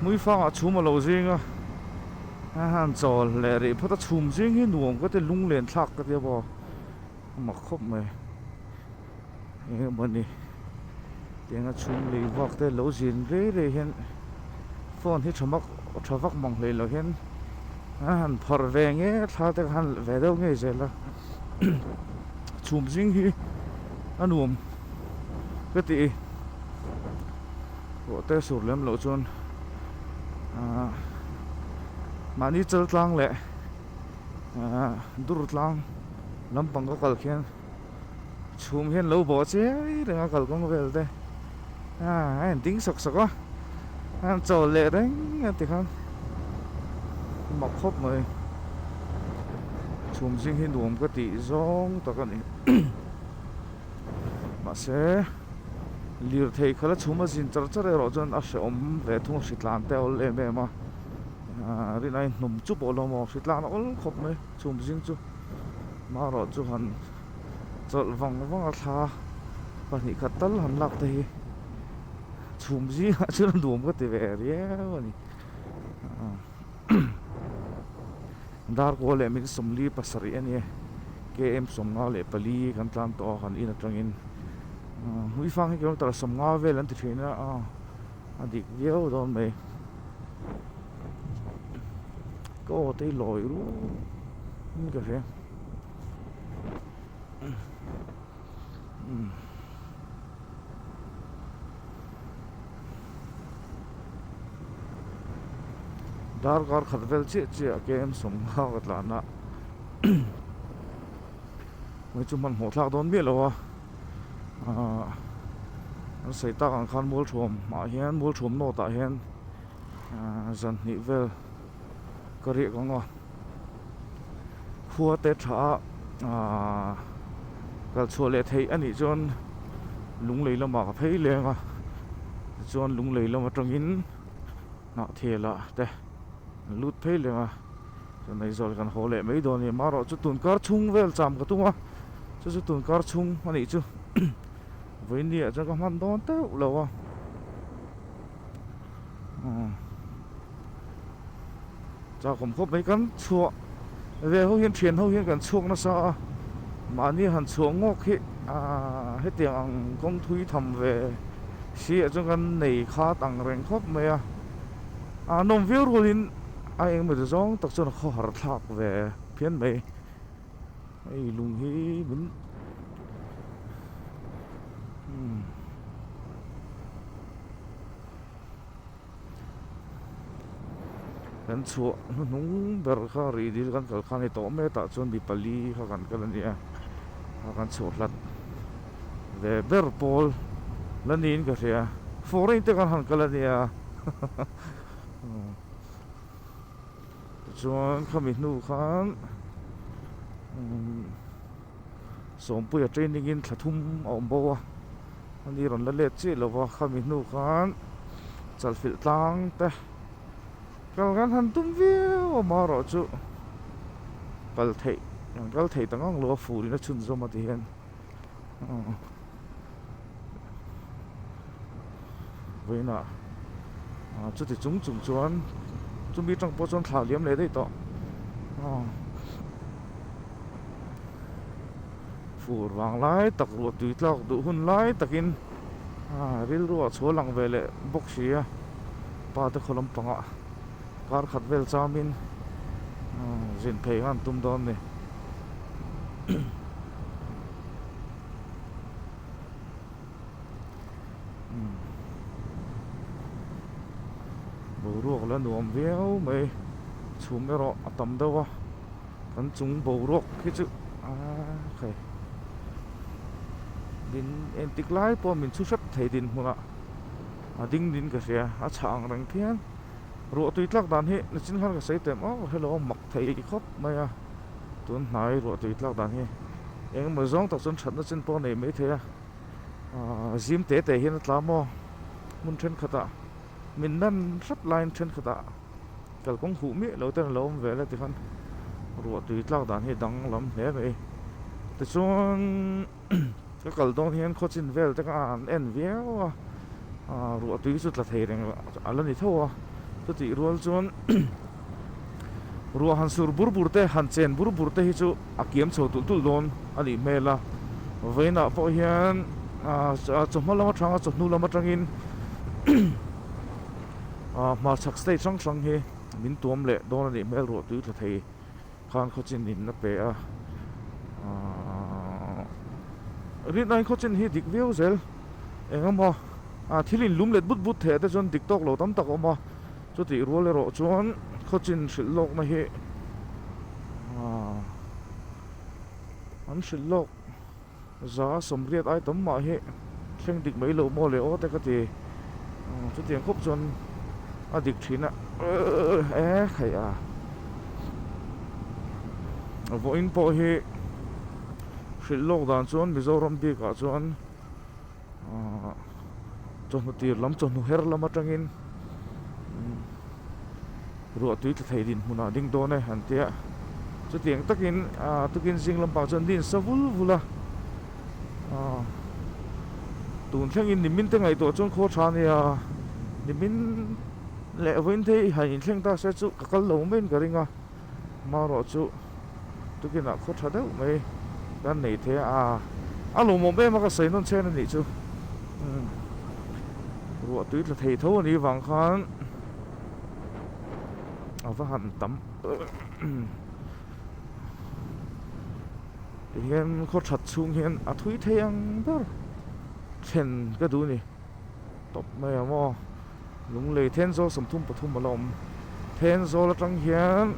Muifanga chhum alo zing a han chawl leh rih phawt a chhum zing hi nuam ka ti a lunglen thlak ka ti a bo a mak khawp mai. eng emawni tianga chhum lei vak te lo zin rei rei hian phone hi tha mak tha vak mang hlei loh hian a han phar ve nge thla te khan ve deuh ngei zel a chhum zing hi a nuam ka ti i ruahte sur lem loh chuan ah mahni chaltlang leh ah dur tlang lampang ka kal khian chhum hian lo bo che reng a kalkawng vel te a en ding sawk sawk a an chaw leh reng a ti khan mak khawp mai chhum zing hi nuam ka tih zawng tak a ni mahse lirthei khala chhum a zin char char erawh chuan a hrehawm ve thung a hritlan te a awlh em em a rinawm chu pawh lo maw hritlan a awlh khawp mai. chhum zing chu mah rawh chu han chawlh vang vang a thla a pahnih khat tal han lak te hi chhum zingah chuan a nuam ka ti ve riau a ni ah dar kaw leh min sawmli pasarih a ni e km sawmnga leh pali kan tlan tawh a kan in atangin ah hlui fang hi kilometre sawmnga vel an ti thin a ah. a dik viau dawn mai ka aw te hi lawi ru in ka hria darkar khat vel chiah chiah a ken sawm nghal ka tlan a hmeichhe hman hmuh thlak dawn miah lo a. ahh seitak ang khan mualthum ah hian mualthum nawt ah hian ahh zan hnih vel ka riah ka ngawh khuate tha a ahh kal chhuah leh theih a nih chuan lunglei lamah ka phei leng a tichuan lunglei lam atangin hnahthel ah te. An lut phei lem a, chuan Aizawl kan haw leh mai dawn a ni. Marawh chu tun kar chhung vel cham ka tum a, chu chu tun kar chhung a nih chu. Vawinia chuan ka hman dawn teuh lo a. Aw. Chakawm khawp mai kan chhuah ve ho hian, thian ho hian kan chhuak nasa a. Mahni han chhuah ngawk hi aaa hetiang ang kawng thui tham ve sih ah chuan kan nei khat ang reng khawp mai a. A nawm viau rul in a eng emaw zawng tak chuan a khaw har thlak ve phian mai. Hei lung hi min hmm. Kan chhuah hnu hnung ber kha rih dil kan kal khan hei tawh met ah chuan mi pali kha kan kal a nia. A kan chhuah hlat. ve ber pawl la niin ka hria fawng reng te kan han kal ania tichuan khami hnu khan sawmpuia training in thla thum a awm bo a ani rawn la let chiah lova khami hnu khan chalfilh tlang te kal kan han tum viau a amarawh chu kal theih kan kal theih ta ngang lo a fur in a chhunzawm a ti hian. vawiinah chuti chung chung chuan chumi tang pawh chuan thlak liam leh daih tawh fur vang lai tak ruah tui tlak duh hun lai takin rilru a chhual ang ve leh bawk si a pa te khaw lampangah. Kar khat vel chaumin zin phei kha an tum dawn a ni. Boruak la nuam viau mai. Chhum erawh a tam deuh a. Kan chung boruak khi chu khaih. Din entik lai pawh a min chhu hrep thei dinhmunah a ding din ka hria. A chhang reng phian. Ruahtui tlak dan hi nichin khan ka sei tem aw hello mak thei khawp mai a tun hnai ruahtui tlak dan hi engemaw zawng tak chuan thatna chin pawh a nei mai thei a ahh zim te te hian a tla maw hmun thenkhatah min nan hrep laiin thenkhatah kalkawng huh miah lo ten a lo awm ve la tikhan ruahtui tlak dan hi a dang lam hle mai tichuan. Ka kal dawn hian khawchin vel te kha an en viau a, aah ruah tui chu tla thei reng a la ni tho a, chutih rual chuan ruah han sur bur bur te, han chen bur bur te hi chu a kiam chho tulh tulh dawn a nih hmel a, vawiinah pawh hian aah chawhma lam atang a chawhnu lam atangin aah hmarchhak stage hrang hrang hi min tuam leh dawn a nih hmel ruah tui tla thei. Khan khaw chin in la pe a ahh rit line khaw chin hi dik viau zel eng a maw a thil in lum let but but theih te chuan dik tawk lo tam tak a awm a chutih rual erawh chuan khaw chin hrilh lawk na hi ahh an hrilh lawk. Za a sawmriat ai tam mah hi thleng dik mai lo maw le aw te ka ti. Chutiang khawp chuan a dik thin a. E khaih a. Vawiin pawh hi hrilh lawk dan chuan Mizoram bikah chuan. Ahh chawhnu tir lam chawhnu her lam atangin ruah tui tla theih din hmunah ding dawn e an tia chutiang takin ahh tukin zing lampang chuan din sa vul vul a ahh tun thlengin nimin te ngaihtuah chuan khaw tha nia nimin leh vawiin thei han inthleng ta se chu ka kal lo maiin ka ring a. Amaherawh chu tukinah khaw tha deuh mai kan nei the a, a lawm awm em a ka sawi nawn chhen a nih chu umm ruah tui tla thei tho a nih vang khan a va han tam ti hian khaw that chhung hian a thui thei ang ber thlen ka duh a ni tawp mai ang maw. Lunglei Thenzawl sawmthum pathum a la awm. Thenzawl atang hian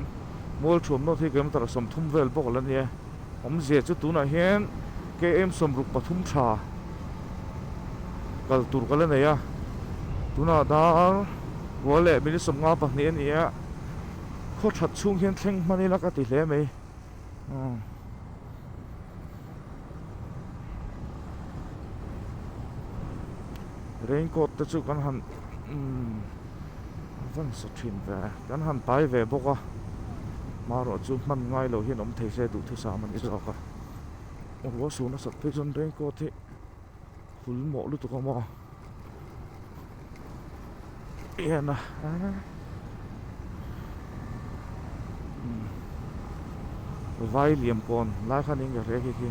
mual thuam nawt hi kilometre a sawmthum vel bawk a la ni a, awmzia chu tunah hian KM sawmruk pathum tha kal tur ka la nei a, tuna dar rual leh minute sawmnga pahnih a ni a, khaw that chhung hian thleng hman ila ka ti hle mai. raincoat te chu kan han van sa thin ve a kan han pai ve bawk a hmaruah chu hman ngai loh hian awm thei se duhthusam a ni zawk a rual suna sak phei chuan raincoat hi-- Phul mawh lutuk a maw en a vai liam pawn lai khan in ka hre khi khi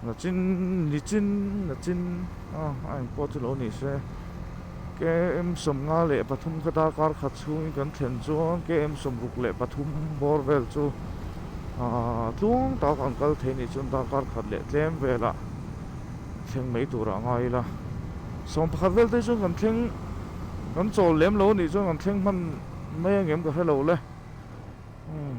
Nachin nichin nachin a a eng pawh chu lo ni se KM sawmnga leh pathum kha darkar khat chhungin kan thlen chuan KM sawmruk leh pathum bawr vel chu ah tluang tak an kal thei nih chuan darkar khat leh tlem velah thleng mai turah a ngai ila sawm pakhat vel te hi chuan kan thleng kan chawl lem lo anih chuan kan thleng hman mai angem ka hre lo le umm.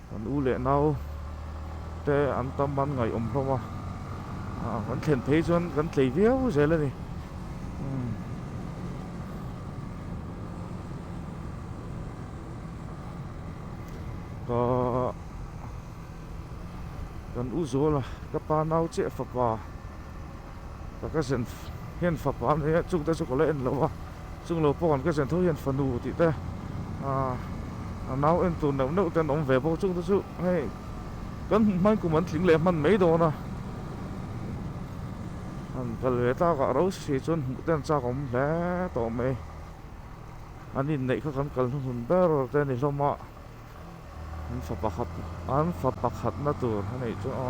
Kan u leh nau te an tam an ngaiawm hlawm a, kan thlen phei chuan kan tlei viau zel a ni. Ka kan u Zawla ka pa nau che fapa. Ka kasen hian fapa an nia chungte chu ka la en lo a, chung lo pawh kan kasen tho hian fanu tih te a nau en tur neuh neuh te an awm ve bawk a, chungte chu hei kan hmai kum an tling leh hman mai dawn a, han kal ve tak ah ro si si chuan hmuh te an chak awm hle tawh mai, an inneih kha kan kal hnuhnun ber te ni hlawm a. an fa pakhat an fa pakhatna tur a nih chu a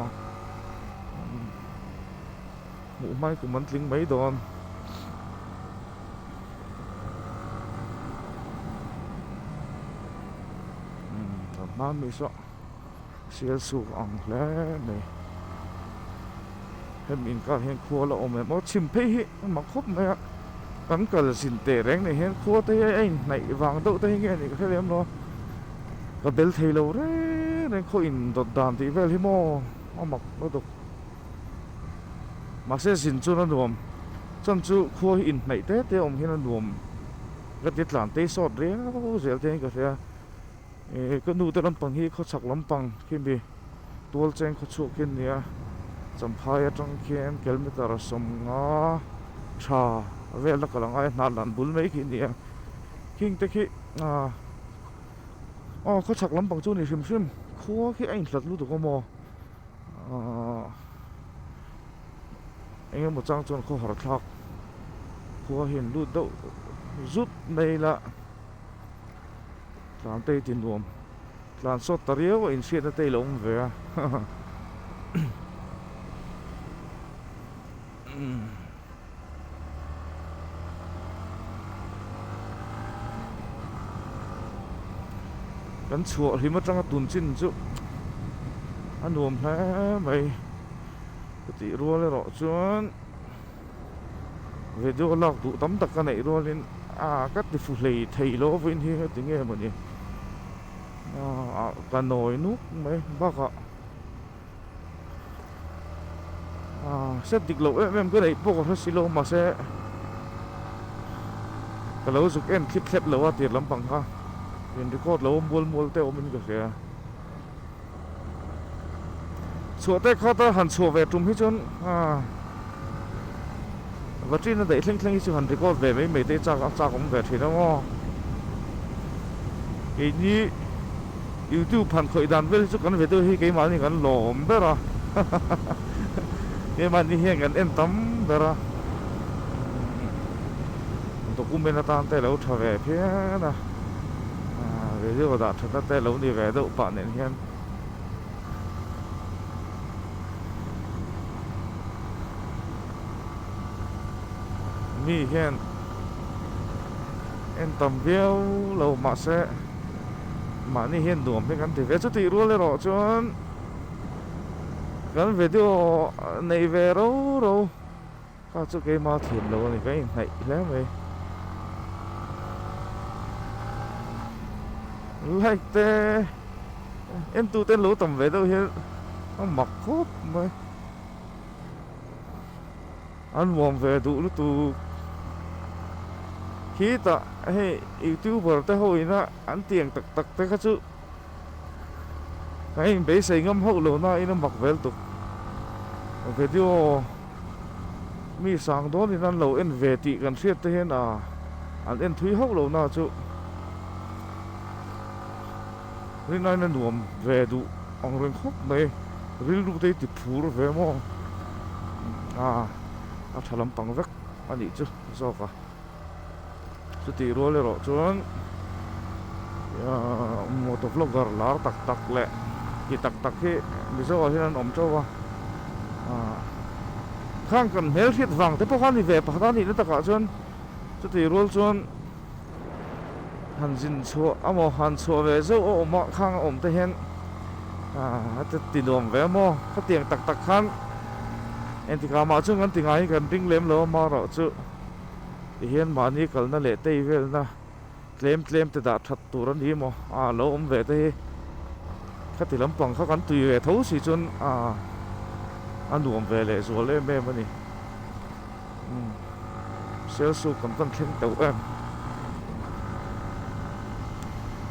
hmuh hmai kum an tling mai dawn hma miso sialsuk ang hle mai. hemi inkar hian khual a awm em aw chhim phei hi a mak khawp mai a kan kalzin teh reng nei hian khua te hi a inhnaih vang deuh te hi nge anih ka hre lem lo a ka bel thei lo reng reng khaw in dawt dan tih vel hi maw a mak lutuk mahse zin chuan a nuam chhan chu khua hi inhnaih te te awm hian a nuam ka ti tlan tei sawt riau zel te hi ka hria. Ehh ka nute lampang hi khawchhak lampang khi mi Tualcheng khawchhuak khi an ni a, Champhai atang khian kilometre sawmnga tha velna ka la ngai a, Hnahlan bul mai khi an ni a, khing te khi aw khawchhak lampang chu a ni hrim hrim, khua khi a inhlat lutuk a maw aah eng emaw chang chuan khawhar thlak khua hi an lut deuh zut mai la. Tlantei ti nuam tlan sawt ta riau a inhriat nate ilo awm ve a kan chhuah hlim atanga tun chin chu a nuam hle mai ka tih rual erawh chuan. Video lak duh tam tak ka neih rualin aa ka ti fu hlei theih loh vawiin hi heti nge maw ni aa ka nawi nuk mai bak a aa hre dik loh em em ka neih pawh ka hre si lo mahse ka lo zuk en thlip thlep lo a tir lampang kha in record lo mual mual te awmin ka hria. Chhuah teh kha ta han chhuah ve tum hi chuan battery na daih thleng thleng hi chu han record ve mai mai te chak a chak awm ve thin ang aw. Keini youtube han khawih dan vel hi chu kan video hi keimahni kan lawm ber a keimahni hian kan en tam ber a document atan te lo tha ve phian a. video dah tha ta te lo ni ve deuh pah nen hian mi hian en tam viau lo mah se mahni hian nuam hi kan ti ve chu tih rual erawh chuan kan video nei ve ro ro Ka chu keimah thiam lo a ni, kan inhnaih hle mai. Like te en tu ten lo tam ve deuh hian a mak khawp mai. An nuam ve duh lutu khitah hei youtuber te ho ina an tiang tak tak te kha chu. Ka in beisei ngam hauh lo na in a mak vel tuk. Vedio mi sang dawn in an lo en ve tih kan hriat te hian a an en thui hauh lo na chu rin aina nuam ve duh ang reng khawp mai. Rilru te hi ti phur ve maw a a tha lampang vek a nih chu zawk a. Chutih rual erawh chuan motor vlogger lar tak tak leh ti tak tak hi Mizoah hian an awm teuh va. Khang kan hmel hriat vang te pawh kha a ni ve, pakhat a nihna takah chuan chutih rual chuan han zin chhuah a maw, han chhuah ve zeuh a awm a, Khang a awm te hian ati ti nuam ve a maw. Khatiang tak tak khan engtikah mah chuan kan ti ngai, kan ring lem lo a mah erawh chu. Tihian mahni kalna leh teivelna tlem tlem te dah that tur a ni maw a lo awm ve te hi khati lampang kha kan tui ve tho si chuan a a nuam ve leh zual em em a ni Sialsuk kan van thleng teuh em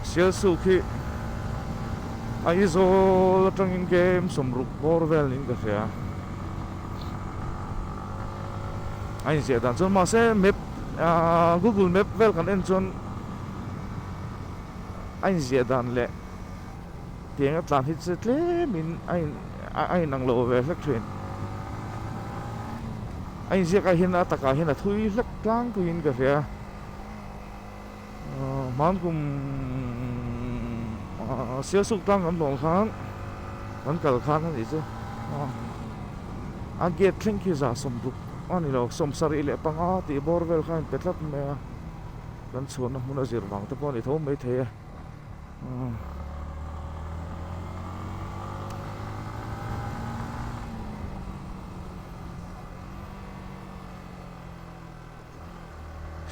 Sialsuk hi Aizawl atangin game sawm ruk bawr vel niin ka hria. a inziah dan chuan mahse map aa google map vel kan en chuan a inziah dan leh tiang atlan hi chu tlemin a in a inang lo ve hlek thin a inziak ah hian a takah hian a thui hlek tlangpuiin ka hria. Hmang kum sialsuk tlang kan hlawm khan kan kal khan a nih chu a gate thleng khi za sawm duk a ni lo sawm sarih leh panga tih bawr vel kha a inpe tlat mai a kan chhuahna hmun a zir vang te pawh a ni tho mai thei a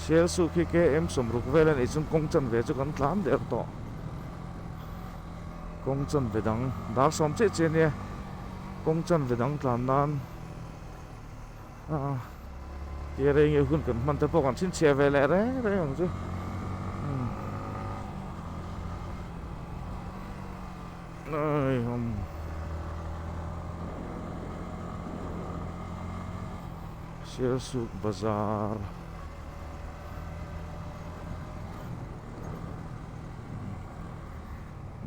Shell suh khi KM sawm ruk vel a nih chung kawng chan ve chu kan tlan der tawh. Kawng chan ve dang dar sawm che che nia kawng chan ve dang tlan nan ah tia rei nge hun kan hman te pawh kan chhinchhiah ve leh reng reng ang chu ai hum Selsuk bazar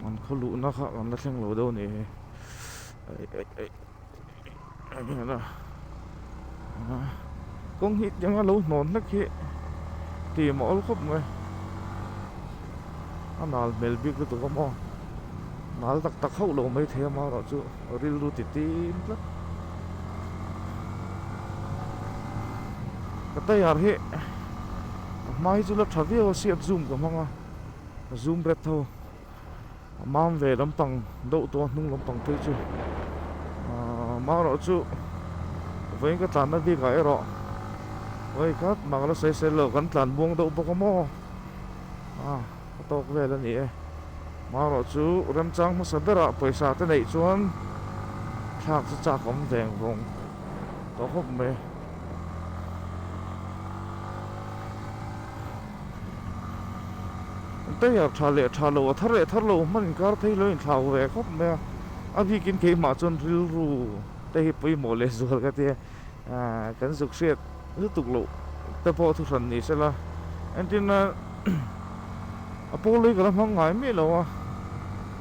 an khaw luhna kha kan la thleng lo deuh ni e kawng hi tiang a lo hnawn hlek hi tim a awl khawp mai a nal hmel bik lutuk a maw nal tak tak hauh lo mai thei amaherawhchu. Rilru ti tim tlat. Ka taiar hi a hma hi chu la tha viau a siat zoom ka hmang a zoom red tho a mam ve lampang doh tawh a hnung lampang phei chu ahh mang erawh chu vawiin ka tlan na bikah erawh vawi khat mak la saisel lo kan tlan buang doh bawk a maw ahh. A tawk vel a ni e. Marawh chu remchang hmasa berah pawisa te neih chuan thlak chu chak awm veng vawng tawh hawp mai. Tayar tha leh tha lo a thar leh thar lo hman inkar phei lo inthlau ve khawp mai a. A bikin keimah chuan rilru te hi pawimawh leh zual ka ti a. ahh kan zuk hriat lutuk loh te pawh thu hran ni se la engtin a a pawlei ka la hmang ngai miah lo a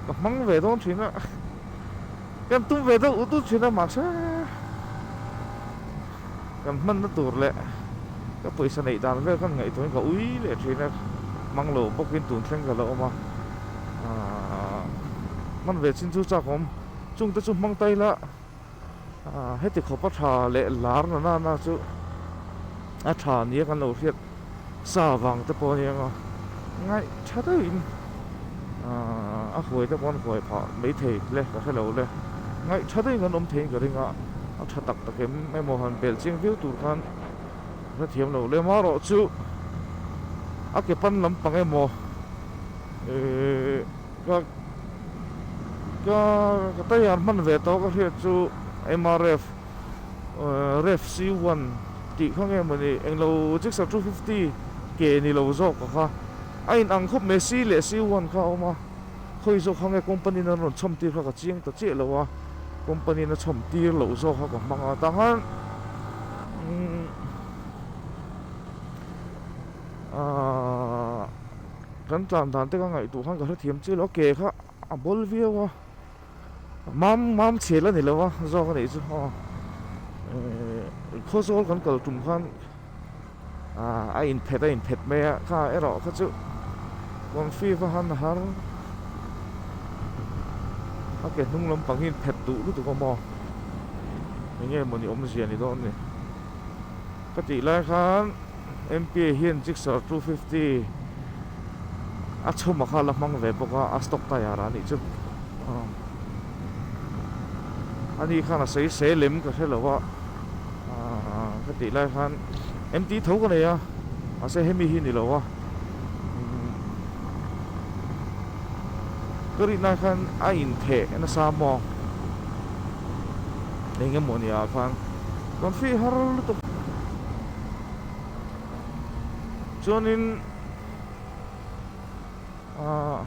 ka hmang ve dawn thin a kan tum ve deuh deuh thin a mahse kan hmanna tur leh ka pawisa neih dan vel kan ngaihtuah in ka ui leh thin a hmang lo bawk in tun thleng ka la awm a ahh hman ve chin chu chak awm chung te chu hmang ta ila. ah heti khawpa tha leh lar na nana chu a tha nia kan lo hriat sa vang te pawh a ni ang a ngaih tha deuh in ah a huai te pawh an huai phah mai thei le ka hre lo le ngaih tha deuh in kan awm thei in ka ring a a tha tak tak em em maw han bel chiang viau tur khan ka hre thiam lo le marawh chu a ke pan lampang emaw ehh. Ka ka ka taiar hman ve tawh ka hriat chu mrf ref c one tih kha nge maw ni englo Gixxer two fifty ke ni lo zawk a kha a in ang khawp mai c leh c one kha a awm a khawi zawk kha nge company in an rawn chhawm tir kha ka chiang ta chiah lo a company in a chhawm tir loh zawk kha ka hmang a tah khan umm aaa. Kan tlan dan te ka ngaihtuh khan ka hrethiam chiah lo a, ke kha a bawl viau a, mam mam chhel a ni lo a zawk a nih chu aw eeh khaw zawl kan kal tum khan aah a inphet a inphet mai a, kha erawh kha chu Confive han a har a ke hnung lampang hi inphet duh lutuk a maw enge maw ni awmzia ni dawn a ni ka tih lai khan. MP hian Gixxer two fifty a chhuma kha ala hmang ve bawk a, a stock tyre a nih chu aw ani khan a sei se lem ka hre lo a aw ka tih lai khan empty tho ka nei a mahse hemi hi ni lo a ka rih nai khan a in theh na sa maw eng emaw nia khan kan fih har lutuk. chuanin ah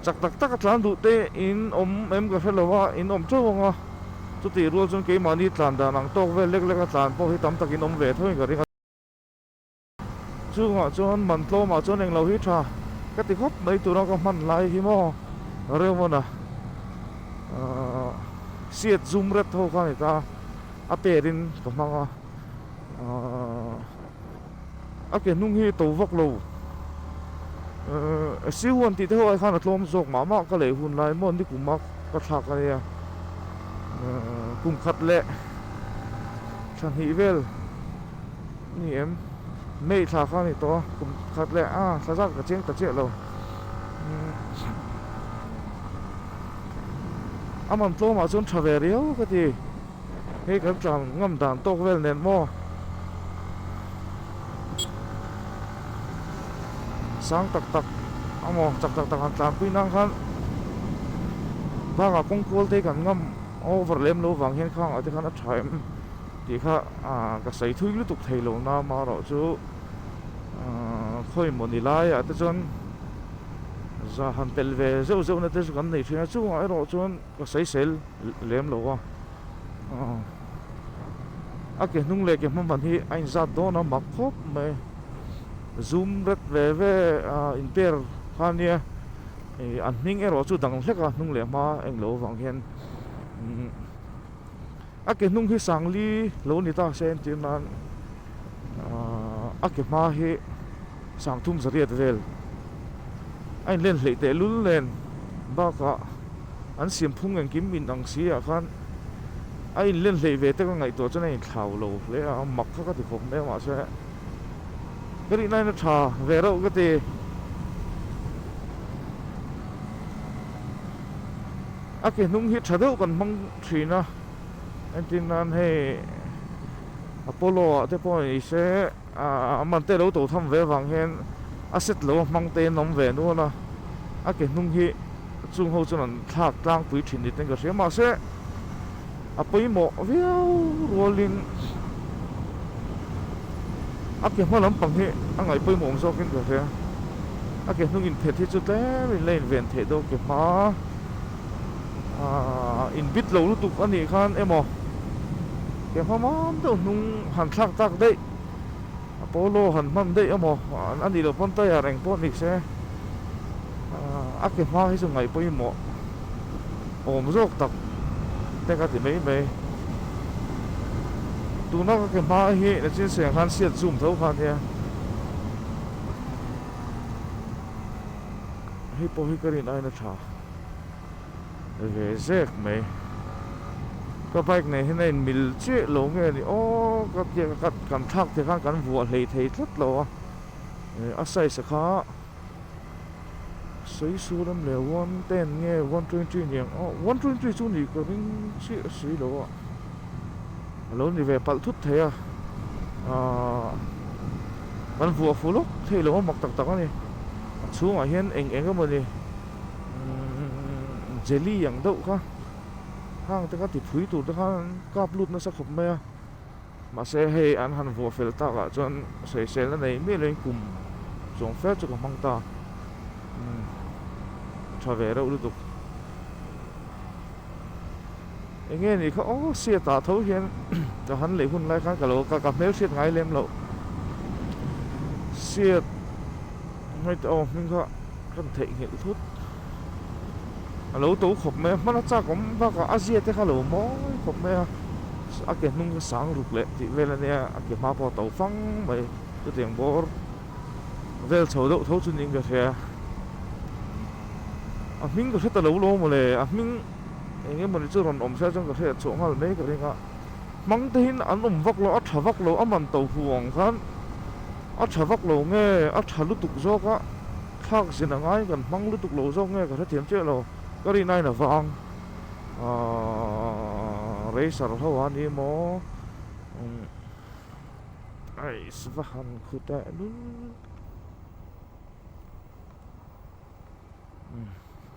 chak tak taka tlan duh te in awm em ka hre lo a in awm teuh ang a chutih rual chuan keimahni tlan dan ang tawk vel lek lek a tlan pawh hi tam takin awm ve thung in ka ring a chungah chuan man tlawmah chuan englo hi tha ka ti khawp mai tura ka hman lai hi maw reuhmawna ah siat zum ret ho kha a ni ta a perin ka hmang a. A ke hnung hi to vak lo. Ehh siu an tih te ho ai khan a tlawm zawk mah mah ka leh hun lai maw nikum a ka thlak a nia. Kum khat leh tha hnih vel ni em May thla kha a ni tawh a kum khat leh a thla zat ka cheng ta chiah lo. A man tlawmah chuan tha ve riau ka ti. Hei kan chang ngam dan tawk vel nen maw? Sang tak tak amaw chak tak tak han tlanpui nan khan banga kawng kual te kan ngam over lem lo vang hian khang ah te khan a tha em tih kha ka sawi thui lutuk thei lo na amarawh chu khawi maw ni lai ah te chuan za han telh ve zeuh zeuh na te chu kan nei thin a chungah erawh chuan Ka saisel lem lo a, a ke hnung leh ke hmaban hi a inzat dawn a mak khawp mai, zum ret ve ve a in per kha nia, ih an hming erawh chu dang hlek a hnung leh hma englo vang hian umm. A ke hnung hi sangli lo ni ta se an tih nan a ke hma hi sangthum zariat vel a inlen hleih tehlul nen bakah an siam phung engkim inang siah khan a inlen hleih ve te ka ngaihtuah chuan a inthlau lo hle a a mak kha ka ti khawp mai a mahse ka ri nain a tha ve reuh ka ti. A ke hnung hi tha deuh kan hmang. thin a, engtin nan hei Apollo ah te pawh ni se a man te lo to tham ve vang hian a set lo a hmang te an awm ve nual a, a ke hnung hi chung ho chuan an thlak tlangpui thin ni ten ka hria mahse a pawimawh viau rual in a ke hma lampang hi a ngai pawimawh awm zawk in ka hria a ke hnung in phet hi chu tlemin la inven theih dawn ke hma. Aaa in bit lo lutuk a nih khan emaw ke hmamam deuh hnung han thlak tak daih Apollo han hman daih emaw a nih loh pawn taiar eng pawh nise a ke hma hi chu ngaih pawimawh awm zawk tak te ka ti mai mai tuna ka ke hma hi na chinseng khan siat zum tho kha nia hei pawh hi ka rin aina tha. a ve zek mai ka bike nei hian a in mil chiah lo nge ni aw ka biak ka kan thlak thei khan kan vuah hlei thei tlat lo a a size kha sawi su lem le one ten nge one twenty ni ang aw one twenty chu nih ka ring chiah a si lo a a lo ni ve palh thut thei a ah kan vuah fuh lawk thei lo a mak tak tak a ni a chhungah hian eng eng emaw ni. umm jelly ang deuh kha hang te kha ti phui tur te khan kap lut nasa khawp mai a mahse hei an han vuah fel tak ah chuan sawisel na nei miah loin kum chuang fel chu ka hmang ta umm tha ve reuh lutuk. Eng nge ni kha aw sia tah tho hian ka han leh hun lai khan ka lo ka ka hmel hriat ngai lem lo sia hmeichh aw hming kha kan theih nghilh thut a lo to khawp mai a hmana chak awm bak a a zia te kha lo mawi khawp mai a a ke hnung kha sang ruk leh tih vel a nia a ke hma pawh a to fang mai chutiang bawr vel chho deuh tho chu ni ka hria a hming ka hre ta lo lo mawle a hming Eng nge mawni chu rawn awm hreh chuan ka hriat chhuah nghal mai ka ring a, hmang te hian an awm vak lo a tha vak lo a man to hu ang khan a tha vak lo nge a tha lutuk zawk a thlak zin a ngai kan hmang lutuk lo zawk nge ka hrethiam chiah lo ka ri nai na vang aaa reisar ho a ni maw umm ais va han khu ta em umm.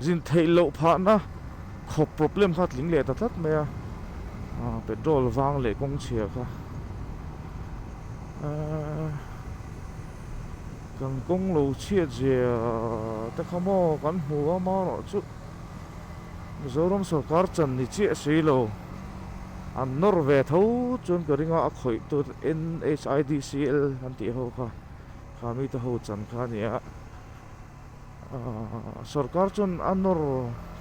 zin theih loh phahna khawp problem kha a tling leh ta tlat mai a ah petrol vang leh kawng chhia kha ah kan kawng lo chhiat zia te kha maw kan hmu a marawh chu Mizoram sawrkar chan ni chiah a si lo an nawr ve tho chuan ka ring a a khawih tur NHIDCL an tih ho kha. kha mi te ho chan kha a ni a ahh sorkar chuan a nawr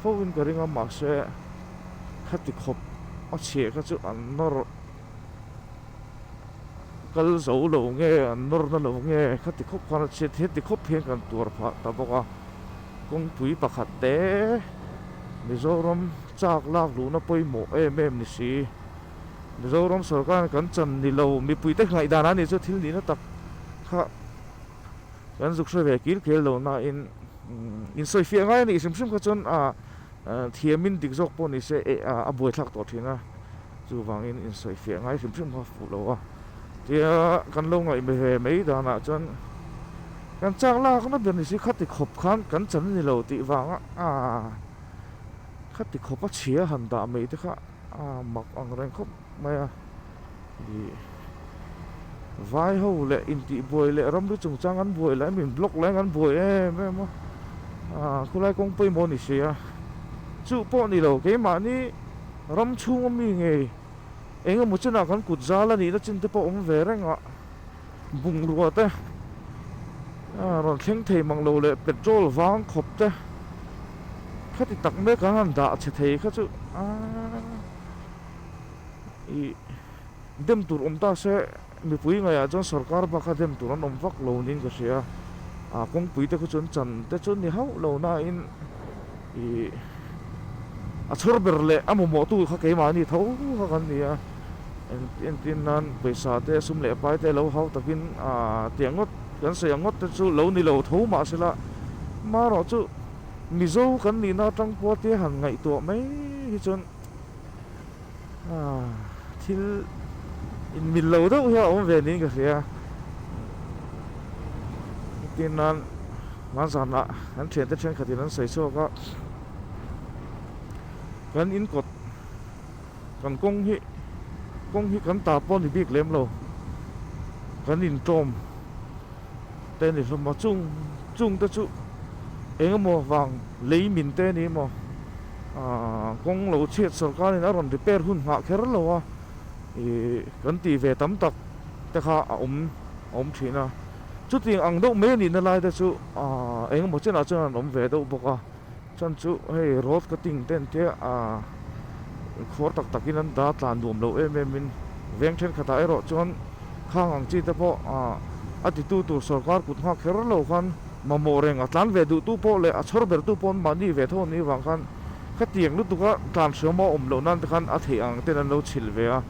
fo in ka ring a mahse khati khawp a chheh kha chu an nawr kal zo lo nge an nawr na lo nge khati khawp khan a chheh thei ti khawp hi an kan tuar phah ta bawk a kawngpui pakhat te Mizoram chak lak luhna pawimawh em em ni si. Mizoram sawrkar kan chan ni lo, mipuite nghaihdan a nih chu thil nihna tak kha kan zuk hre ve kil kel lo nain insawi fiah ngai a nih hrim hrim kha chuan thiamin dik zawk pawh ni se a buaithlak tawh thin a, chuvangin insawi fiah ngai hrim hrim kha fuh lo a. Tia kan lo ngaih hme ve mai danah chuan kan chak lakna ber ni si khati khawp khan kan chan ni lo tih vanga khati khawpa chhia han dah mai te kha. Aa mak ang reng khawp mai a ni. Vaiho leh intihbuai leh ramri chungchang an buai lahin min block lahin kan buai em em a. Aa khulai kawng pawimawh ni si a. Chu pawh ni lo, keimahni ram chhunga mi ngei engemaw chinah kan kut zal a nihna chinte pawh awm ve reng a. Bungrua te, rawn thleng thei mang lo leh petrol vang khawp te khati tak mek an rawn dah chhe thei kha chu i dem tur awm ta se mipui ngai ah chuan sawrkar bakah dem tur an awm vak lo niin ka hria a kawngpui te khaw chu an chan te chu ni hauh lo na in. Ih, a chhur ber leh a mamawhtu kha keimahni tho kha kan ni a, en entin nan pawisa te sum leh pai te lo hau takin aa teh ngawt kan sawi ang ngawt te chu lo ni lo tho mah se la, marawh chu Mizo kan nihna atang pawh tia han ngaihtuah mai hi chuan. Thil inmil lo deuh hian a awm ve niin ka hria. Tin nan hman zanah kan thiante thenkhatin an sawi chhuak a. Kan in kawt kan kawng hi kawng hi kan ta pawh a ni bik lem lo. Kan in tlawm te a ni hlawm a. Chung chungte chu engemaw vang lei min te a ni maw Kawng lo chhiat sorkar in a rawn repair hun nghah kher lo a, ih kan tih ve tam tak te kha a awm a awm thin a. Chutiang ang deuh mai a nihna lai te chu aa eng emaw chinah chuan a rawn awm ve deuh bawk a. Chuan chu hei road cutting te an tia aa khawr tak tak in an dah a tlan nuam lo em em in. Veng thenkhatah erawh chuan khang ang chi te pawh aa a ti tu tur sorkar kut nghak kher lo khan, Mamawh reng a tlan ve duhtu pawh leh a chhawr bertu pawh an mahni ve tho a nih avang khan khatiang lutuk a tlan hriam a awm loh nan te khan a theih ang ten an lo chhilh ve a.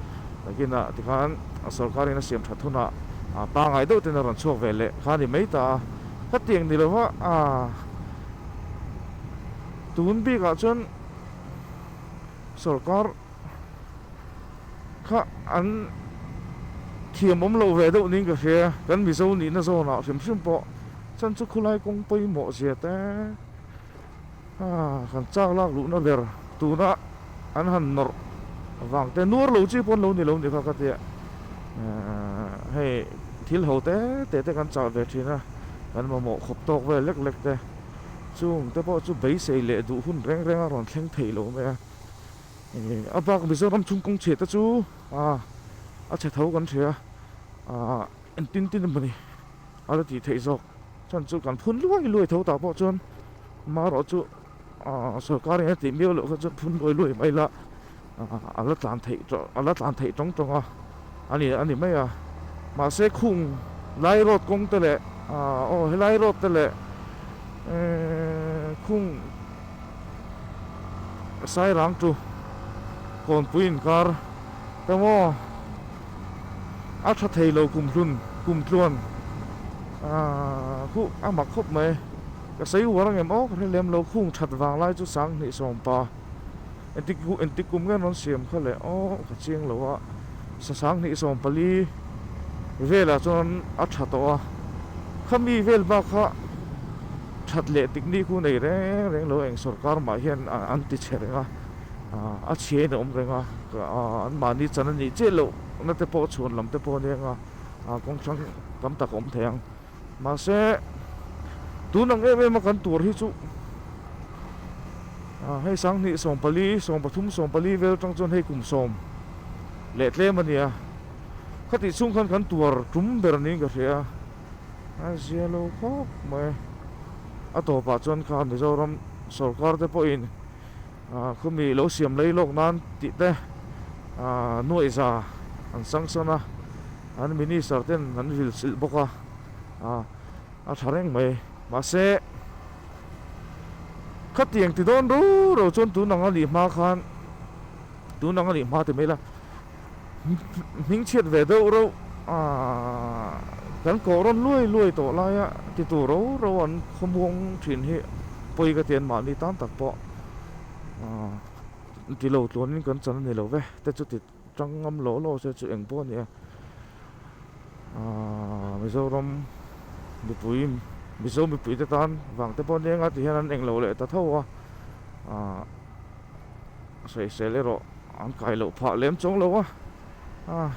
Nakinah tikhan sorkarin a siam that hunah pangai deuh ten a rawn chhuak ve leh kha a ni mai ta a, khatiang ni lo a tun bikah chuan sorkar. kha an thiam awm lo ve deuh niin ka hria, kan Mizo nihna zawnah hrim hrim pawh chan chu khulai kawng pawimawh zia te aah han chak lak luhna ber tuna an han nawrh vang te nuar lo chi pawh an lo ni lo ni kha ka ti a, aah hei thil ho te te te kan chah ve thin a, kan mamawh khawp tawk vel lek lek te chungte pawh chu beisei leh duh hun reng reng a rawn thleng thei lo mai a. a bak mizoram chhung kawng chhehte chu a chhe tho kan hria ah entin tin emawni a la tih theih zawk chuan chu kan phun luai luai tho tah pawh chuan amarawh chu ah sorkar in a tih miau loh khan chuan phun luai luai mai la a la tlan theih a la tlan theih tawng tawng a. A ni, a ni mai a. Mahse khung Lai Road kawng te leh aah aw he Lai Road te leh khung Sairang tu Kawnpui inkar te maw a tha thei lo kum hlun kum tluan aah khuh a mak khawp mai. Ka sawi uar ang em aw ka hre lem lo khung that vang lai chu sang hnih sawm pa Entikku entik kum nge rawn siam kha le aw ka chiang lo a sasang hnih sawm pali velah chuan a tha tawh a khami vel bak kha that leh tik ni khu nei reng reng lo eng sorkar mah hian an ti chhe reng a a chhia in awm reng a an mahni chan a nih chiah loh na te pawh chhun lam te pawh a nia kawng chhang tam tak a awm thei ang. Mahse tun ang em em a kan tur hi chu a hei sanghnih sawm pali sawm pathum sawm pali vel atang chuan hei kum sawm leh tlem a ni a khati chhung khan kan tuar tum ber niin ka hria a zia lo khawp mai a tawpah chuan kha Mizoram sawrkar te pawhin Khumi lo siam lei lawk nan tih te nuaihza an sang san a, an Minister ten an vil chilh bawk a, a tha reng mai. Mahse, khati eng ti dawn ruro chuan tun anga nih hma khan, tun anga nih hma ti mai la. Hming chhiat ve deuh reuh aah kan kawhrawn luai luai tawh laia titu ro ro an khawmuang thin hi pawi ka ti an mahni tan tak pawh aah ti lo tluanin kan chan a ni love te chu ti tang ngam lo lo se chu eng pawh a ni a aah Mizoram mipui Mizo mipuite tan vang te pawh nia eng a ti hian an eng lo leh ta tho a aah. sawi sel erawh an kai loh phah lem chawng lo a a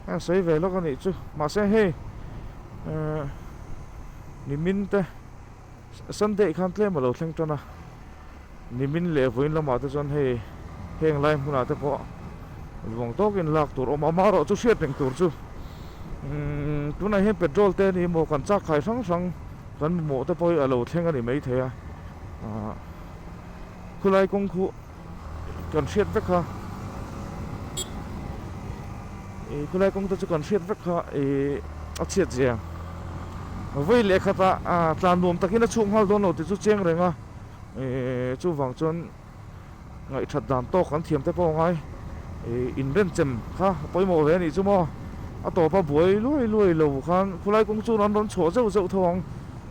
a sawi ve lawk a nih chu mahse hei eh nimin te sunday khan tlem a lo thleng tan a nimin leh vawiin lamah te chuan hei heng lai hmunah te pawh luang tawk in lak tur awm ama erawh chu hriat reng tur chu umm tunah hian petrol te a ni maw kan chak khai hrang hrang. Kan mamawh te pawh hi a lo thleng a ni maithei a, ah khulai kawng khu kan hriat vek kha, ih khulai kawng te chu kan hriat vek kha ih a chhiat zia vawi leh khatah ah tlan nuam takin a chhuk nghal dawn lo tih chu cheng reng a, ih chuvang chuan. ngaihṭhat dan tawk kan thiam te pawh ngai ih inrem chem kha a pawimawh ve a nih chu maw? A tawpa buai luai luai lo khan khulai kawng chuan an rawn chhuah zeuh zeuh tho ang.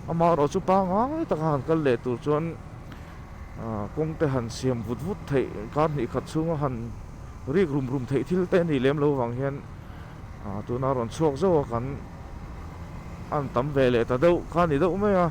Amaherawh chu pangngai taka han kal leh tur chuan kawngte han siam vut vut theih kar hnih khat chhunga han rik rum rum theih thil te a nih lem lo vang hian tuna rawn chhuak zeuh a kan a han tam ve leh ta deuh kha a ni deuh mai a.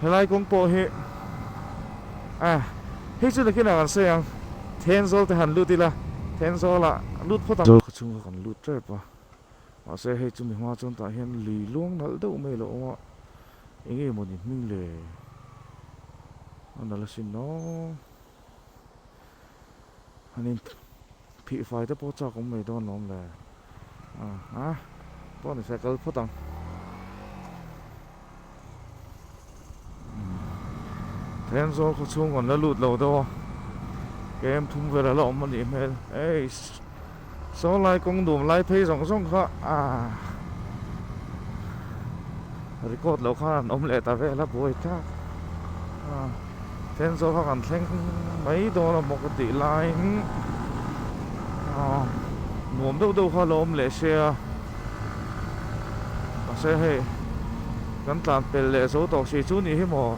helai kawng pawh hi a hei chu nakin a kan sawi ang then zawl te han lut ila then zawl ah lut phawt ang khaw chhung kha kan lut tep a mahse hei chu mi hma chuan tah hian lui luang nalh deuh mai lo awm a eng emaw ni hming le a nalh asin aw. an in phih fai te pawh chak awm mai dawn lo awm le aha pawh ni hriat kal phawt ang then zawl khaw chhung an la lut lo deuh a kem thum vel a la awm a nih hmel eish Sawlai kawng dum lai phei zawng zawng kha ah record loh khan an awm leh ta vel a buai tak ah then zawk kha kan thleng mai dawn a bawk a tih laiin ah nuam deuh deuh kha a lo awm leh se a mahse hei kan tlan pel leh zo tawh si chu nih hi maw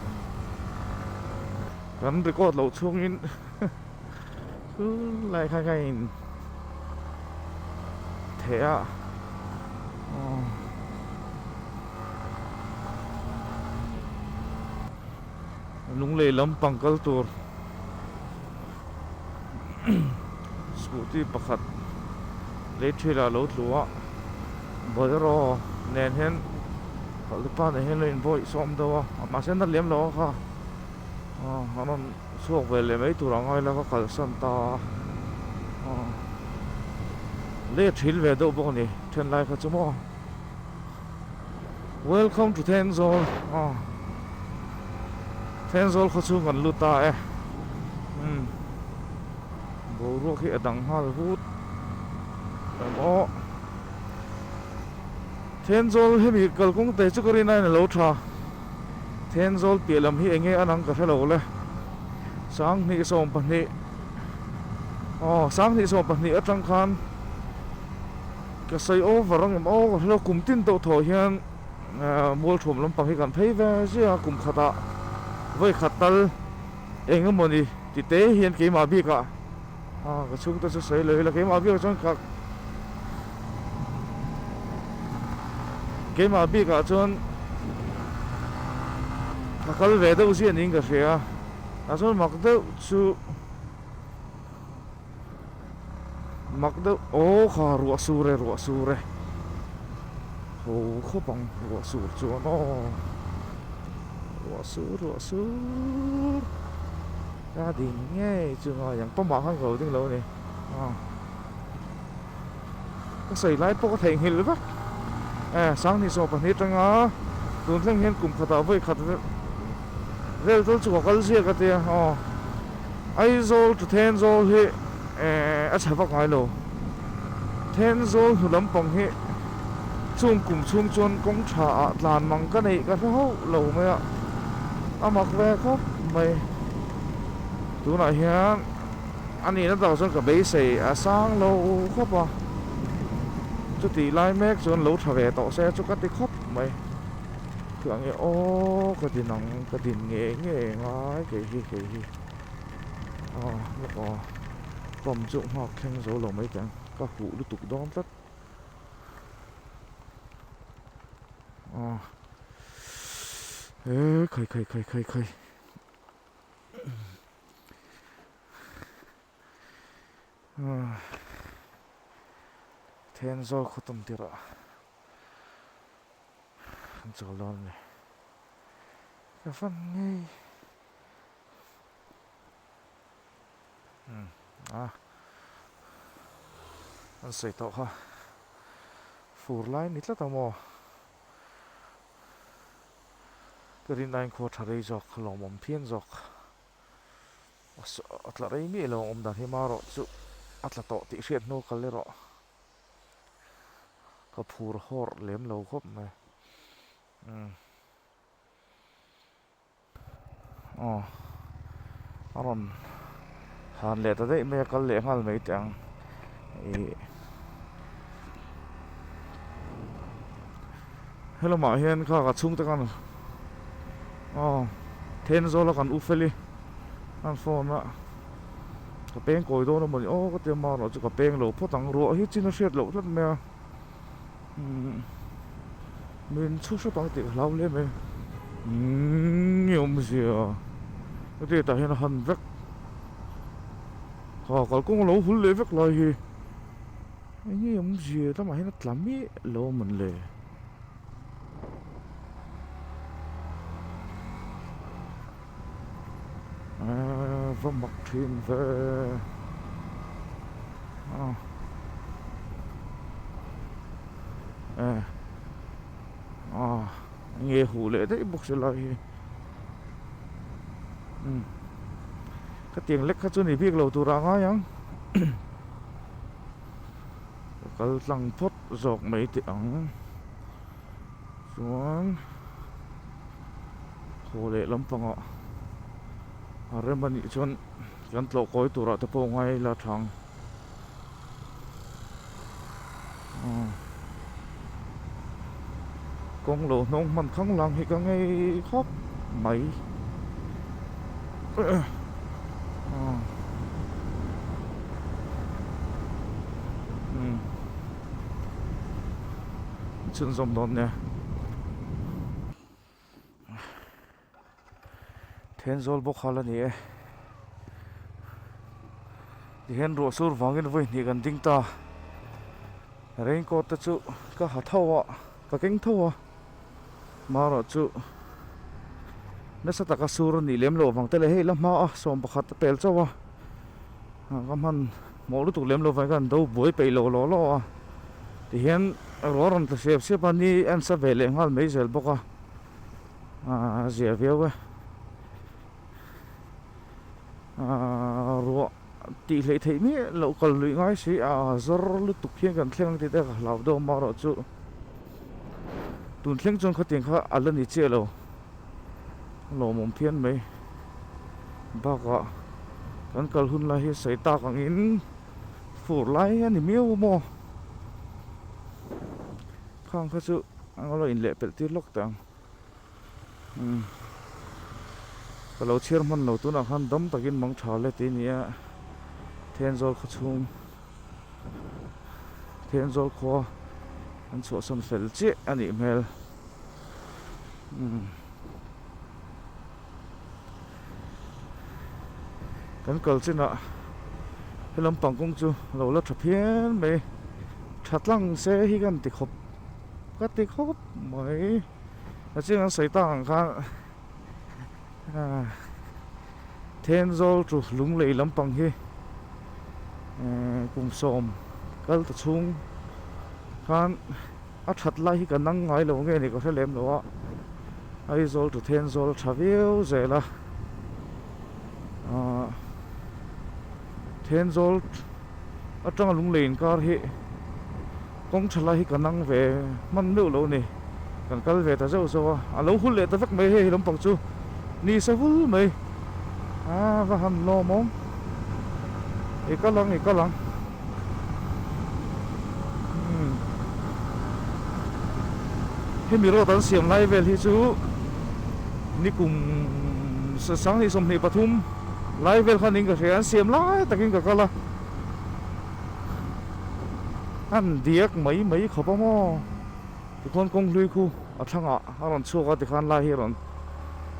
kan record loh chhungin. Lai khai khai in theh a Lunglei lam pang kal tur scooty pakhat lei ṭhil ah a lo tlu a Bolero nen hian khalh te pa nen hian a lo invawi sawm deuh a mahse na lem lo a kha. Chhuak ve lem ei tur ang a ila ka kalsan ta a aw let hril ve deuh bawk a ni then lai kha chu maw welcome to thenzawl aw thenzawl khaw chhung kan lut a e umm boruak hi a dang nghal hut em awh thenzawl hemi kalkawng te chu ka rin ain a lo tha. Thenzawl piah lam hi enge a nang ka hre lo le. Sanghnih sawm pahnih aw sanghnih sawm pahnih atang khan ka sawi over ang em aw ka hre lo. Kum tin tawh thawh hian Mualthum lampang hi kan phei ve zia kum khatah vawi khat tal engemawni titei hian keimah bikah. Aw ka chhungte chu sawi lo ila keimah biak chuan ka keimah bikah chuan ka kal ve deuh ziah niin ka hria tah chuan mak deuh chu mak deuh aw kha ruah sur e ruah sur e ho khawp ang ruah sur chuan aw ruah sur ruah sur. Ka ding ngei chu ngai ang pawmah khan ka lo ding lo ni a ka sawi lai pawh ka theihnghilh vek e sangni sawm pahnih atanga tun thleng hian kum khatah vawi khat vel tal chu ka kal ziak a tia aw Aizawl to Thenzawl hi e a chhava ngai lo. Theng zawl hnu lampang hi chung kum chhung chuan kawng tha ah tlan mang ka neih ka hre hauh lo mai a, a mak ve khawp mai. Tunah hian a nihna dang chuan ka beisei a sang lo khawp a, chutih lai mek chuan lo tha ve tawh se chu ka ti khawp mai. Thil ang e aw ka din ang, ka din nge nge ngai kei hi kei hi aw lawk aw. pump chu nghak thleng zo lo mai te ang ka huh lutuk dawn tlat aw eee khai khai khai khai khai aw then zâwl khaw tam tirah an châwl dawn a ni ka fan ngei. Hmm, a. An sawi tawh kha. Fur lai ni tlat a maw? Ka rin ain khaw tha rei zawk, lawmawm phian zawk. A tla rei miah lo ang awmdan hi ma rawh chu a tla tawh tih hriat hnu kal erawh. Ka phur hawrh lem lo khawp mai. Hmm. aw a rawn han leh ta daih mai a kal leh nghal mai teh ang ih helamah hian khak a chhungte khan aw then zawla kan u fel i an phone a ka peng kawi dawn amaw ni aw ka ti a maroh chu ka peng lo phawt ang ruah hi chin a hriat loh tlat mai a. min chhu hrap ang tih ka hlau hle mai umm nge awm zia hetiang tah hian a han vek ha kalkawng a lo hul leh vek lai hi enge awm zia he lamah hian a tla miah lo a man leh eee va mak thin ve aw eee aw nge huh leh daih bawk se lai hi umm ka tiang lek kha chu ni bik lo tur a ngai ang ka kal tlang phawt zawk mai teh ang. Chuan haw leh lampangah a rem anih chuan kan tlawhkawi turah te pawh ngai la thang aw kawng lo hnawng hman khang lang hi ka ngei khawp mai aw umm. chhun zawm dawn nia then zawl bawk hal a ni e tihian ruahsur vangin vawi hnih kan ding ta raincoat te chu ka ha tho a ka keng tho a. Marawh chu nasa taka sur a nih lem lo vang te leh hei la hma a sawm pakhat a pel chauh a ka hman mawh lutuk lem lo vang hian do buai peih lo law law a tihian ruah a rawn tla siap siap a ni a insa ve leh nghal mai zel bawk a ziah viau e ruah-- Tih hlei theih miah loh kal luih ngai si a, zawr lutuk hian kan thleng ang tih te ka hlau dawn marawh chu tun thleng chuan khawtiang kha a la ni chiah lo, lawmawm phian mai bakah kan kal hun lai hi sawi tak angin fur lai a ni miau maw khang kha chu eng emaw inleh pelh tir lawk teh ang. Ka lo chhiar hman lo tunah khan dam takin mang tha let i nia, Thenzawl khaw chhung Thenzawl khua an chhuahsan fel chiah a nih hmel. Kan kal chinah he lampang kawng chu lo la tha phian mai, tha tlang se hi kan ti khawp. Ka ti khawp mai a chhing an sawi ta ang khan Thenzawl chu Lunglei lampang hi kum sawm kal ta chhung khan a that lai hi ka nang ngai lo nge ni ka hre lem lo a Aizawl chu Thenzawl a tha viau zel a Thenzawl atanga Lunglei inkar hi Kawng tha lai hi kan ang ve hman meuh lo ni, kan kal ve ta zeuh zeuh a, a lo hul leh ta vek mai hei hi lampang chu ni sa hul mai a va han lawm awm i kal ang i kal ang umm hemi road an siam lai vel hi chu ni kum sa sang ni sawmhnih pathum lai vel khan in ka hria an siam lai takin ka kal a. an diak mai mai khawp a maw tichuan kawng hlui khu a thlangah a rawn chhuak a tikhan lai hi a rawn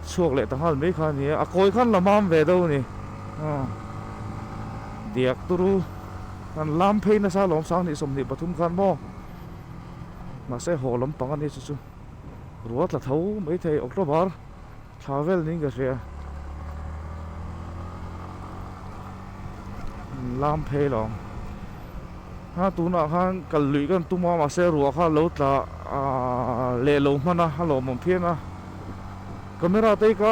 chhuak leh ta nghal mai kha a ni a a kawi khan la mam ve deuh a ni aw diak tur u an lam phei nasa a lawmsang hnih sawmhnih pathum khan maw mahse haw lampang a ni chu chu ruatla tho mai thei october Thla vel niin ka hria. Min lam phei lo ang. Ha tunah khan kal luih kan tum a, mahse ruah kha lo tla aah leh lo hman a, a lawmawm phian a. Camera te ka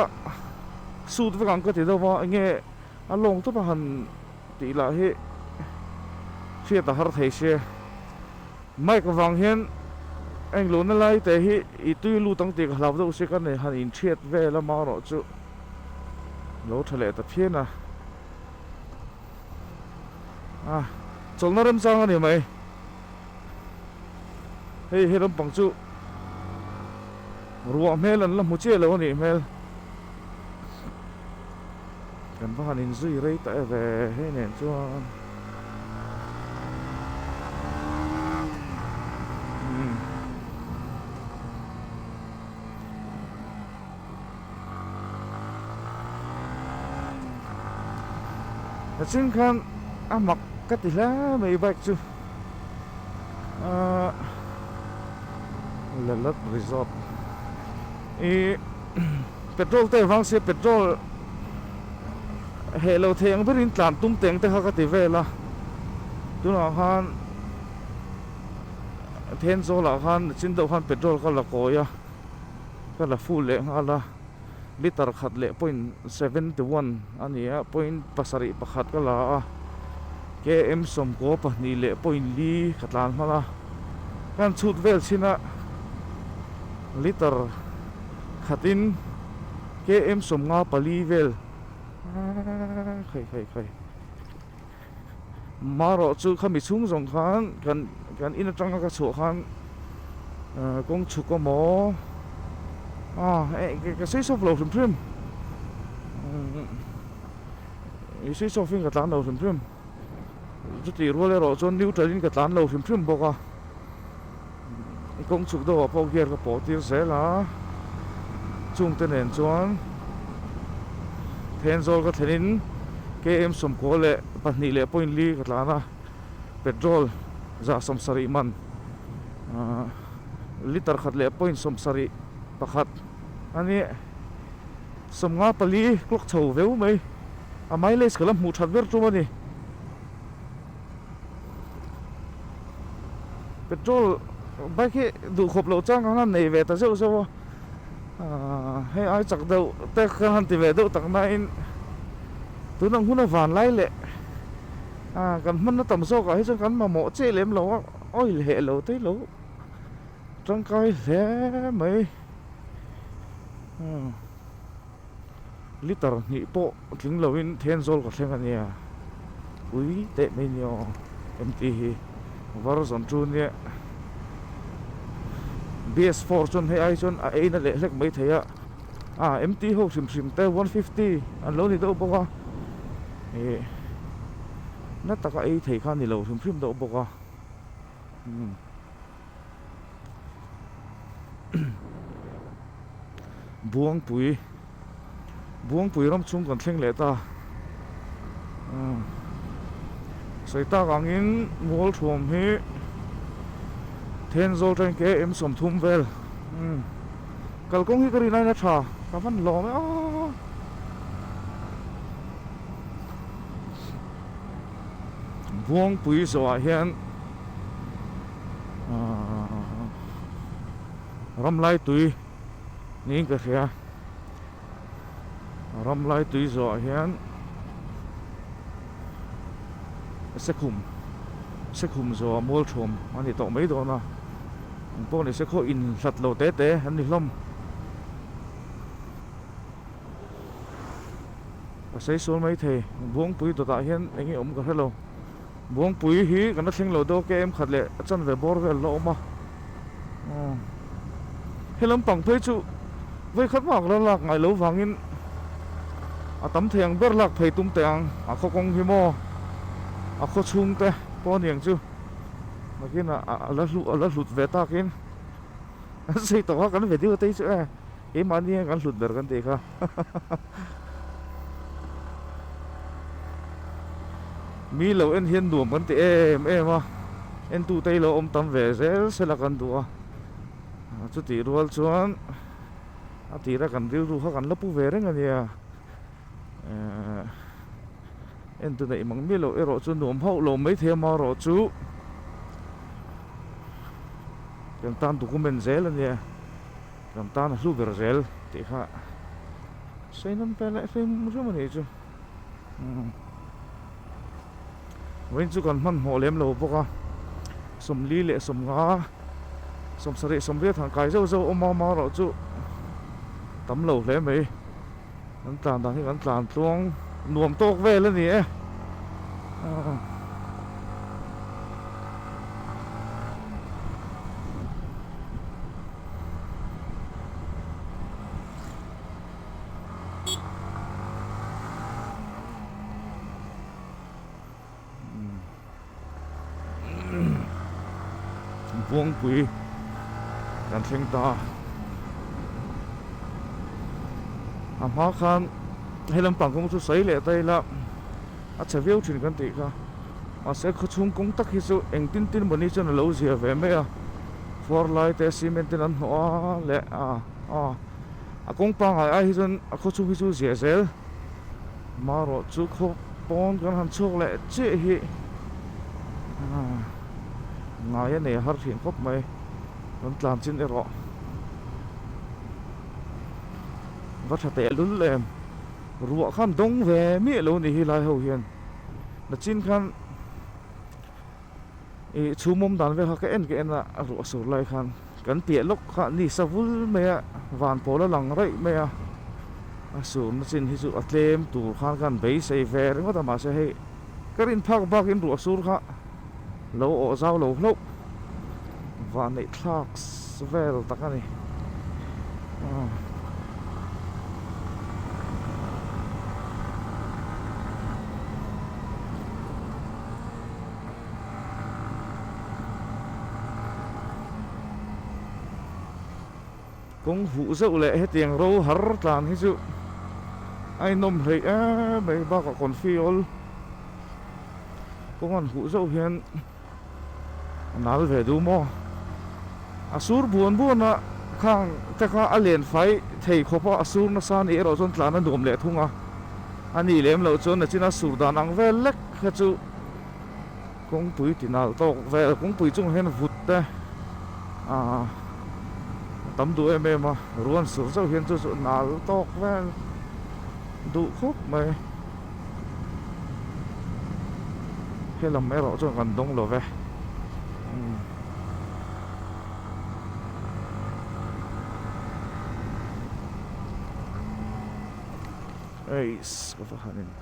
shoot vek ang ka ti deuh a, enge a lawng tawp a han tih lah hi hriat a har thei se. Mike avang hian eng luhna lai te hi i tui lut ang tih ka hlau deuh si, ka ni han in thiat vel a mah rawh chu lo tha leh ta phian a. A chawlhna remchang a ni mai. Hei he lampang chu ruah hmel an la hmu chiah lo a nih hmel. Kan va han in zui rei ta e ve hei nen chuan. A chhung khan a mak ka ti hle mai bike chu ahh Lalawt resort ih-- Petrol te vang sia petrol heh lo thei ang berin tlan tum teng te kha ka ti vel a, tunah khan then zawl ah khan a chin deuh khan petrol ka la kawi a, ka la full leh nghal a, litre khat leh point seventy one a ni a, point pasarih pakhat ka la a, KM sawmkaw pahnih leh point li ka tlan hman a, ka han chhut vel chin a litre Khatin KM sawmnga pali vel khai khai khai Marawh chu khami chhung zawng khan kan kan in atanga ka chhuah khan kawng chhu ka maw a ka switch off lo hrim hrim i switch off in ka tlan lo hrim hrim. chutih rual erawh chuan neutral in ka tlan lo hrim hrim bawk a kawng chhuk deuhah pawh gear ka pawh tir zel a chungte nen chuan then zawl ka thlen in KM sawmkua leh pahnih leh point li ka tlan a petrol zah sawm sarih man litre khat leh point sawm sarih pakhat a ni. Sawmnga pali clock chho veu mai a mileage ka la hmuh that ber tum a ni. Petrol bike hi duh khawp loh chuan ka han nei ve ta zeuh zeuh a. Hei ai chak deuh te ka han ti ve deuh tak nain tun ang huna vanlai leh kan hmanna tam zawkah hi chuan kan mamawh che lem lo a, oil heh lo te lo. Tangkai hle mai hmm litre hnih pawh tling lo in then zawl ka thleng ania ui teh mai ni aw engti hi varzan chu nia bs four chuan hei ai chuan a ein a leh hlek mai thei a ah engti ho hrim hrim te one fifty an lo ni deuh bawk a ih na taka ei thei kha a ni lo hrim hrim deuh bawk a hmm. Buangpui Buangpui ram chhung kan thleng leh ta sawi tak angin Mualthum hi Then Zawl Train KM sawmthum vel kalkawng hi ka rin aina tha ka hman hlawm e a Buangpui zawhah hian. ramlai tui niin ka hria ramlai tui zawhah hian sekhum sekhum zawha mual thum a ni tawh mai dawn a ang pawh ni se khaw in hlat lo te te an ni hlawm ka sawisawi mai thei buangpui dawtah hian eng nge awm ka hre lo. Buangpui hi kan la thleng lo deuh a ke em khat leh a chanve bawr vel la awm a aw he lam pang phei chu vei khat vak la lak ngai lo vang in a tam thei ang ber lak phei tum teh ang a khaw kawng hi maw a khaw chhung te pawh aniang chu nakin a a la hlu a la hlut ve tak in an sawi tawh a kan ve deuh a tei chu e keimah ni hian kan hlut ber kan ti kha. Mi lo en hian nuam kan ti em em a entute hi lo awm tam ve zel sela kan duh a chutih rual chuan a tira kan rilru kha kan la pu ve reng a nia ehh entu neih mang miah loh erawh chu nuam hauh lo mai thei ama erawh chu ken tan document zel a nia. Ram tan a hlu ber zel tih kha seinan pe leh fe hmu hrim a nih chu umm vawiin chu kan hman hmawh lem lo bawk a sawmli leh sawmnga sawmsarih sawmriat han kai zauh zauh awm a mau erawh chu tam lo hle mai. Kan tlan dan hi kan tlan tluang nuam tawk vel a ni e. Vawngpui kan thleng ta a. A hma khan hei lampang kawng chu sawi leh ta ila a chhe viau thin kan tih kha. Mahse khawchhung kawng tak hi chu eng tin tin mawni chuan a lo zia ve mai a. Khuar lai te cement ten an hnawh a leh a a kawng pangngai ai hi chuan a khawchhung hi chu ziah zel. Marawh chu khawk pawn kan han chhuak leh chiah hi ngai a nei har thin khawp mai kan tlan chin erawh va tha teh lul em ruah khan dawng ve miah lo nih hi helai ho hian nachin khan. ih chhum awm dan vel kha ka en ka en a a ruah sur lai khan kan piah lawk kha ni sa vul mai a van pawl a lang raih mai a a surna chin hi chu a tlem tur khan ka han beisei ve ringawt a mahse hei ka rin phak bak in ruah sur kha lo awh zau lo hlauh vaneihthlak vel tak a ni a. Kawng vuh zeuh leh hetiang ro har tlan hi chu a inawm hleih em mai bakah kawnfiawl kawng an huh zeuh hian a nal ve duh maw? A sur buan buana khang te kha a len fai thei khawp a, a sur nasa nih erawh chuan tlan a nuam leh thung a, a nih lem loh chuan nachina sur dan ang vel lek kha chu Kawngpui tinal tawk vel kawngpui chungah hian vut te ahh a tam duh em em a ruan sur zauh hian chu chu nal tawk vel duh khawp mai helam erawh chuan kan dawng lo ve umm eisss ka va han in.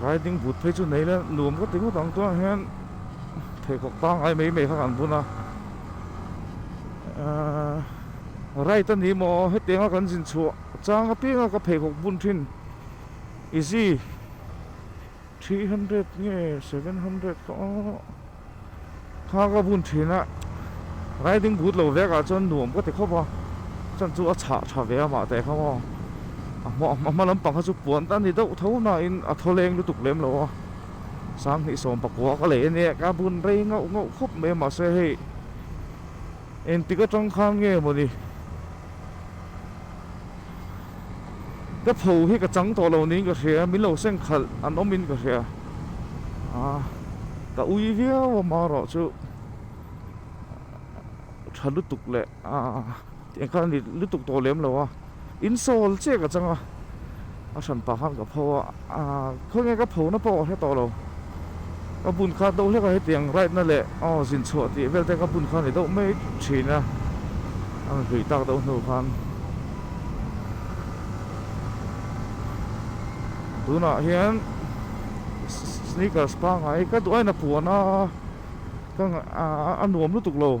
Riding boot phei chu nei le nuam ka ti ngawt ang tunah hian pheikhawk pangai mai mai kha kan bun a ahh right a ni maw hetianga kan zin chhuah chang apianga ka pheikhawk bun thin easy three hundred nge seven hundred kha aww. Thla ka vun thin a, riding boot lo vek ah chuan nuam ka ti khawp a, chuan chu a chhah tha ve a mah te kha maw. A hma a hma lampang kha chu puan ta ni deuh tho nain a thawleng lutuk lem lo a, sang hnih sawm pakua ka lei a nia, ka vun rei ngauh ngauh khawp mai a mahse hei engtik atang khan nge maw ni. Ka pho hi ka chang tawh lo niin ka hria a, min lo seng khalh an awm in ka hria a, ka ui viau a mah erawh chu tha lutuk leh tiang kha a ni lutuk tawh lem lo a, insawl chiah ka chang a, a hran pah khan ka pho a. Khaw nge ka phona pawh ka hre tawh lo. Ka bun kha do hlek a hetiang right na leh aw zin chhuah tih vel te ka bun kha ni deuh mai thin a. A rawn hlui tak deuh hnu khan tunah hian sneakers pangngai ka duh a in a puan a ka a nuam lutuk lo.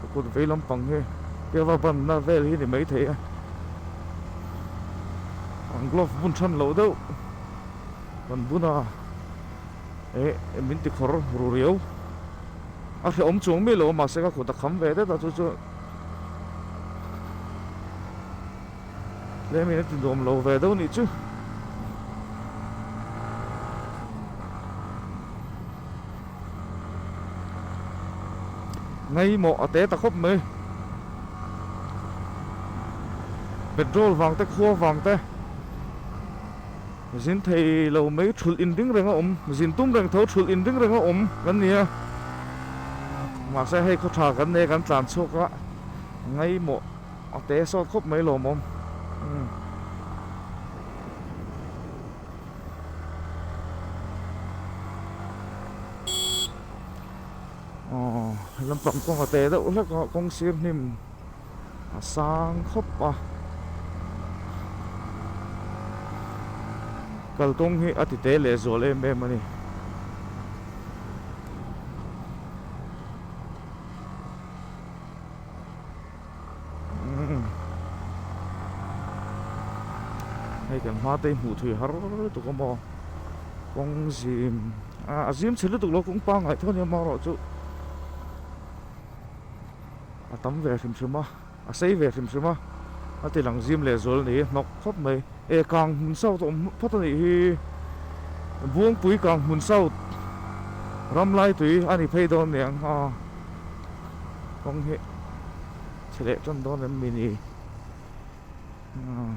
ka kut vei lampang hi ka va ban na vel hi ni mai thei a an glove bun than lo deuh kan bun a eh min ti khawr ru riau a hre awm chuang mi lo mahse ka kut a kham ve det a chu chu Tlem in a ti duam lo ve deuh nih chu. Ngei maw a te ta khawp mai. Petrol vang te khua vang te. Zin thei lo mai thul in ring reng a awm. Zin tum reng tho thul in ring reng a awm kan nia. Mahse hei khawtha kan nei kan tlan chhuak a. Ngei maw. A te a sawt khawp mai lo mawm umm. Aww lampang kawng a te deuh hlek a kawng sir hnim a sang khawp a. Kalkawng hi a ti te leh zual em em a ni. hei kan hma te hi hmuh theih har tu ka maw kawng zim a a zim chhe lutuk lo kawng pangngai tho ania amaherawhchu chu a tam ve hrim hrim a a sei ve hrim hrim a a tilang zim leh zual ni hnawk khawp mai e kang hmun sau tawh awm phawt a nih hi buangpui kang hmun sau ramlai tui a ni phei dawn nia ang ha. kawng hi chhe leh tawn dawn reng mai ni ah